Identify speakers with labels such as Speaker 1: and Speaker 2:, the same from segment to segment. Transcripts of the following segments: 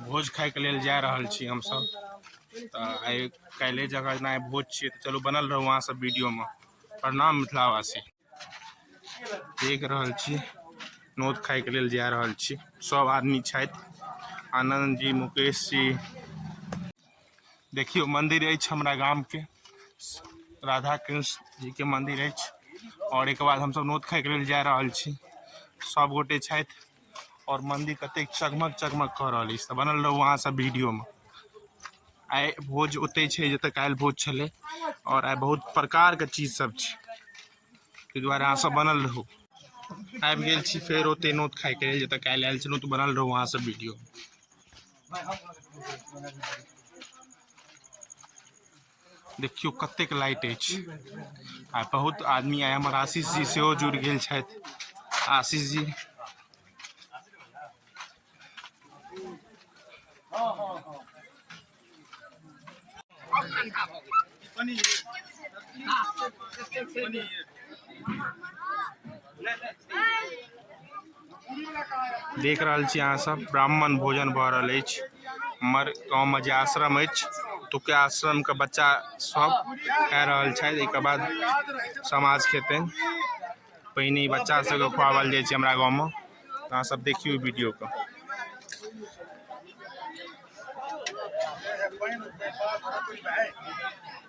Speaker 1: भोज खायके लेल जा रहल छी हमसभ तऽ आइ काल्हि जगह जेना भोज छियै तऽ चलू बनल रहू अहाँ सब वीडियोमे प्रणाम मिथिलावासी देख रहल छी नोत खायके लेल जा रहल छी सभ आदमी छथि आनन्द जी मुकेश जी देखियौ मन्दिर अछि हमरा गामके राधा कृष्ण जीके मन्दिर अछि आओर एहिके बाद हमसभ नोत खायके लेल जा रहल छी सभगोटे छथि आओर मन्दिर कतेक चकमक चकमक कऽ रहल अछि तऽ बनल रहू अहाँ सब वीडियोमे आइ भोज ओतै छै जतऽ काल्हि भोज छलै आओर आइ बहुत प्रकारके चीज सब छै ताहि दुआरे अहाँ सब बनल रहू आबि गेल छी फेर ओतै नोत खाइके लेल जतऽ काल्हि आयल छलहुँ तऽ बनल रहू अहाँ सब वीडियो देखियौ कतेक लाइट अछि आ बहुत आदमी आइ हमर आशीष जी सेहो जुड़ि गेल छथि आशीष जी देख रहल छी अहाँ सब ब्राह्मण भोजन भऽ रहल अछि हमर गाँवमे जे आश्रम अछि ओतुका आश्रमके बच्चा सब खा रहल छथि एहिके बाद समाज खेतै पहिने ई बच्चा सबके खुआओल जाइ छै हमरा गाँवमे अहाँ सब देखियौ वीडियोके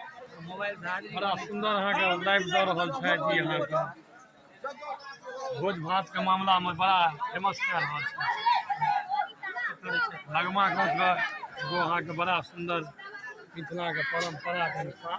Speaker 2: बड़ा सुंदर अहाँ के लाइव दऽ रहल छै जी अहाँ के भोज भात के मामला में बड़ा फेमस कऽ रहल छै भगमा गाँव के एगो अहाँ के बड़ा सुंदर मिथिला के परंपरा के अनुसार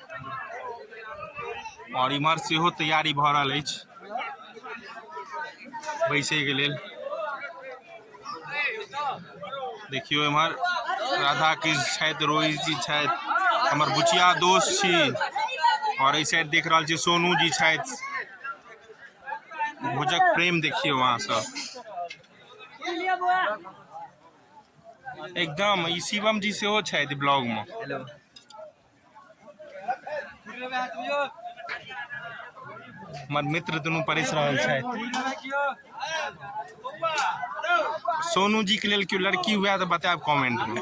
Speaker 1: आओर इम्हर सेहो तैयारी भऽ रहल अछि बैसैके लेल देखियौ एम्हर राधा कृष्ण छथि रोहित जी छथि हमर बुचिया दोस्त छी आओर एहि साइड देख रहल छी सोनू जी छथि भोजक प्रेम देखियौ अहाँ सब एकदम ई शिवम जी सेहो छथि ब्लॉगमे हमर मित्र दुनू परसि रहल छथि सोनू जी के लेल केओ लड़की हुए तऽ बतायब कमेंट में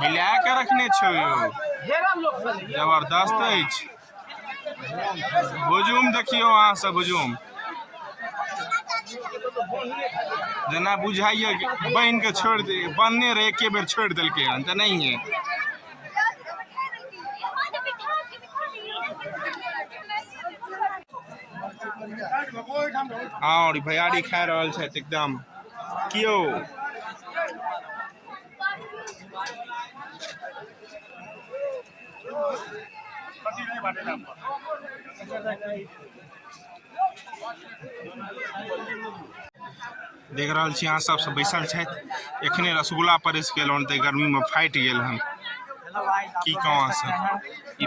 Speaker 1: हिला के रखने छौ यौ जबरदस्त अछि हुजूम देखियौ अहाँ सब हुजूम जेना बुझाइए कि बहिन के छोड़ि दे बनने रहे एके बेर छोड़ि देलकै हन तऽ नहि है और भैयारी खा रहल छै एकदम क्यों देख रहल छी अहाँ सबसँ बैसल छथि एखने रसगुल्ला परसि गेल हन तऽ गर्मीमे फाटि गेल हन की कहू अहाँसँ ई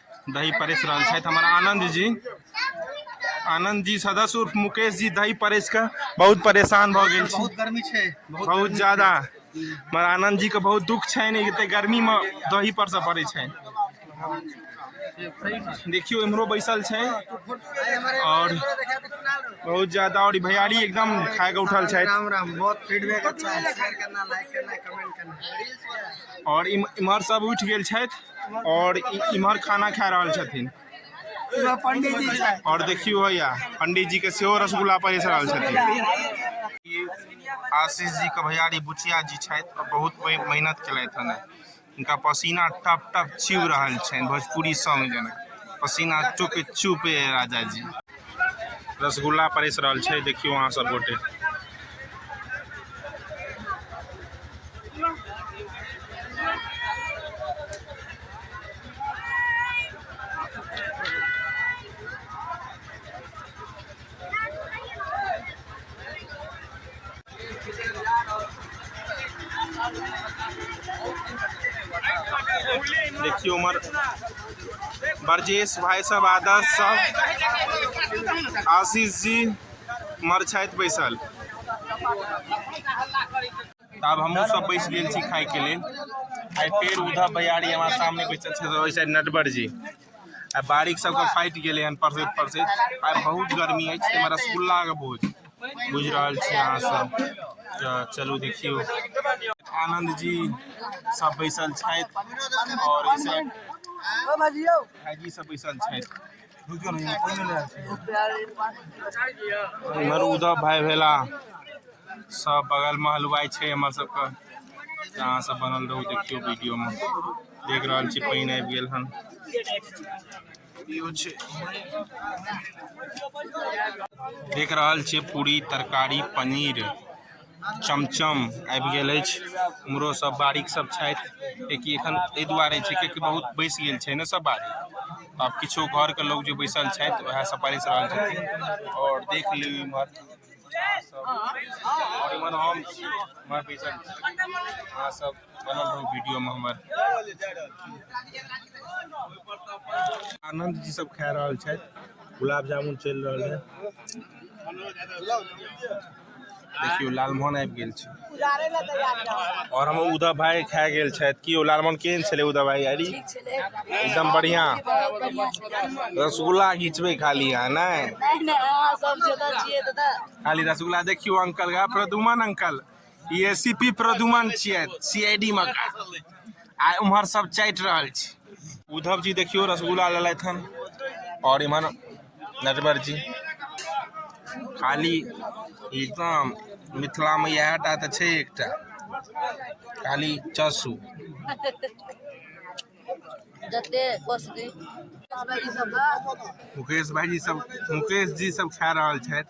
Speaker 1: दही परसि रहल छथि हमर आनन्द जी आनन्द जी सदस्य उर्फ मुकेश जी दही परसि कऽ बहुत परेशान भऽ गेल छी बहुत गर्मी छै बहुत
Speaker 3: बहुत गर्मी ज्यादा
Speaker 1: हमर आनन्द जी के बहुत दुख छनि एते गर्मी मे दही पर से पड़ै छनि देखियौ इम्हरो बैसल छै और बहुत ज्यादा और ई भैयारी एकदम खा के उठल छथि राम राम बहुत फीडबैक
Speaker 3: अच्छा है शेयर करना लाइक करना कमेंट करना और
Speaker 1: इम- इम्हर सब उठि गेल छथि और इमहर खाना खा रहल छथिन
Speaker 3: और देखियो भैया
Speaker 1: पंडित जी के सेहो रसगुल्ला परेस रहल छथिन आशीष जी के भैयारी बुचिया जी छथि बहुत मेहनत केलथि हन इनका पसीना टप टप चुभ रहल छनि भोजपुरी सॉन्ग जेना पसीना चुप चुप राजा जी रसगुल्ला परसि रहल छै देखियौ अहाँ सब गोटे देखियो उमर ब्रजेश भाई सब आदर्श सब आशीष जी मर छथि बैसल तब हमहूँ सब बैस गेल छी खाइके लेल आइ फेर उद्धव भैयारी हमारे सामने बैसल छथि नटवर जी आ बारीक सबके फाटि गेलै हन पढ़ैत पढ़ैत आ बहुत गर्मी अछि ताहिमे रसगुल्लाके भोज बुझि रहल छी अहाँ सब तऽ चलू देखियौ आनन्द जी सब बैसल छथि आओर ऐसे भाईजी सब बैसल छथि इम्हर उद्धव भाई भेला सब बगलमे हलवाइ छै हमर सबके अहाँ सब बनल रहू देखियौ वीडियोमे देख रहल छी पानि आबि गेल हन देख रहल छी पूरी तरकारी पनीर चमचम आबि गेल अछि उमरो सब बारीक सब छथि किएकि एखन एहि दुआरे छै किएकि बहुत बैसि गेल छै ने सब बारी आब किछो घरके लोक जे बैसल छथि उएह सब परसि रहल छथिन आओर देख लियौ इम्हर अहाँ सब आओर इम्हर हम इम्हर बैसल छी अहाँ सब बनल रहू वीडियोमे हमर आनंद जी सब खा रहल छथि गुलाब जामुन चलि रहल है देखियो लालमोहन आबि गेल छै और हम उदय भाई खा गेल छथि कि लालमोहन केहन छलै उदय भाई अरे एकदम बढ़िया रसगुल्ला घिचबै खाली अहाँ ने खाली रसगुल्ला देखियो अंकल प्रदुमन अंकल ई एसीपी प्रदुमन छियै सीआईडी मे का आ उम्हर सब चाटि रहल छी उद्धव जी देखियो रसगुल्ला लेलथि हन और इमहर नटवर जी खाली एकदम मिथिला में इएह टा तऽ छै एकटा खाली चसू जते कोसगी मुकेश भाईजी सब मुकेश जी सब खा रहल छथि